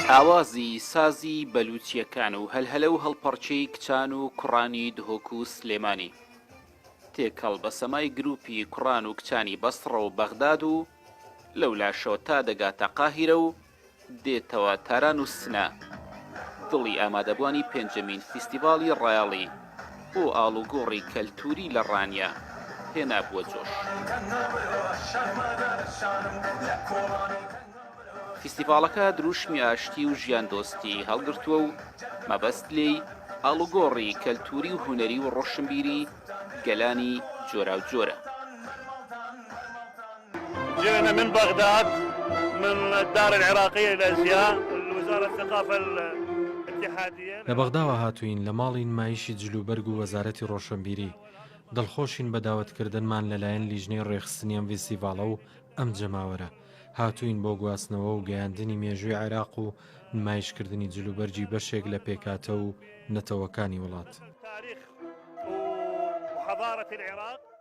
ئاوازی سازی بەلووچییەکان و هەلهەلە و هەڵپەڕکێی کچان و کوڕانی دهۆک و سلێمانی تێکەڵ بە سەمای گرووپی کوڕان و کچانی بەسڕە و بەغداد و لەولاشەوە تا دەگاتە قاهیرە و دێتەوە تاران و سنە دڵی ئامادەبوانی پێنجەمین فیستیڤاڵی ڕایەڵی بۆ ئاڵوگۆڕی کەلتووری لە ڕانیە هێنابووە جۆش. فیستیڤاڵەکە درووشمی ئاشتی و ژیاندۆستی هەڵگرتووە و مەبەست لێی ئاڵوگۆڕی کەلتووری و هونەری و ڕۆشنبیری گەلانی جۆراوجۆرە. جێنە من بەغداد من دار العراقیە الازیا الوزارە الثقافە الاتحادیە. لە بەغداوە هاتووین لە ماڵی نمایشی جل و بەرگ و وەزارەتی ڕۆشەنبیری. دڵخۆشین بە داوەتکردنمان لەلایەن لیژنەی ڕێخستنی ئەم ڤیستیڤاڵە و ئەم جەماوەرە. هاتووین بۆ گواستنەوە و گەیاندنی مێژووی عێراق و نمایشکردنی جل و بەرگی بەشێک لە پێکهاتە و نەتەوەکانی وڵات.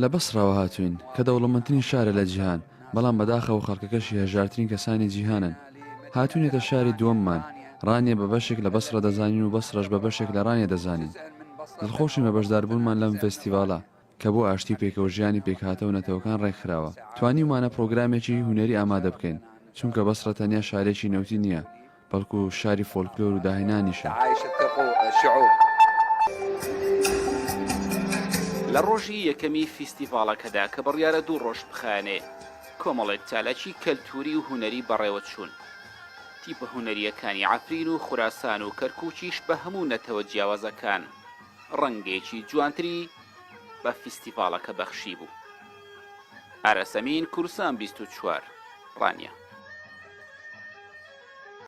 لە بەسڕەوە هاتووین، کە دەوڵەمەندترین شارە لە جیهان، بەڵام بەداخەوە خەڵکەکەشی هەژارترین کەسانی جیهانن. هاتووینەتە شاری دووەممان، ڕانیە بە بەشێک لە بەسڕە دەزانین و بەسڕەش بە بەشێک لە ڕانیە دەزانین. دڵخۆشین بە بەشداربوونمان لەم فێستیڤاڵە، کە بۆ ئاشتی و پێکەوەژیانی پێکهاتە و نەتەوەکان ڕێکخراوە. توانیومانە پڕۆگرامێکی هونەری ئامادە بکەین، چونکە بەسڕە تەنیا شارێکی نەوتی نییە، بەڵکو شاری فۆلکلۆر و داهێنانیشە. لە ڕۆژی یەکەمی فیستیڤاڵەکەدا کە بڕیارە دوو ڕۆژ بخایەنێ، کۆمەڵێک چالاکی کەلتووری و هونەری بەڕێوە چوون. تیپە هونەرییەکانی عەفرین و خوراسان و کەرکووکیش بە هەموو نەتەوە جیاوازەکان ڕەنگێکی جوانتری بە فیستیڤاڵەکە بەخشیبوو. ئارەس ئەمین، کورسان بیست و چوار، ڕانیە.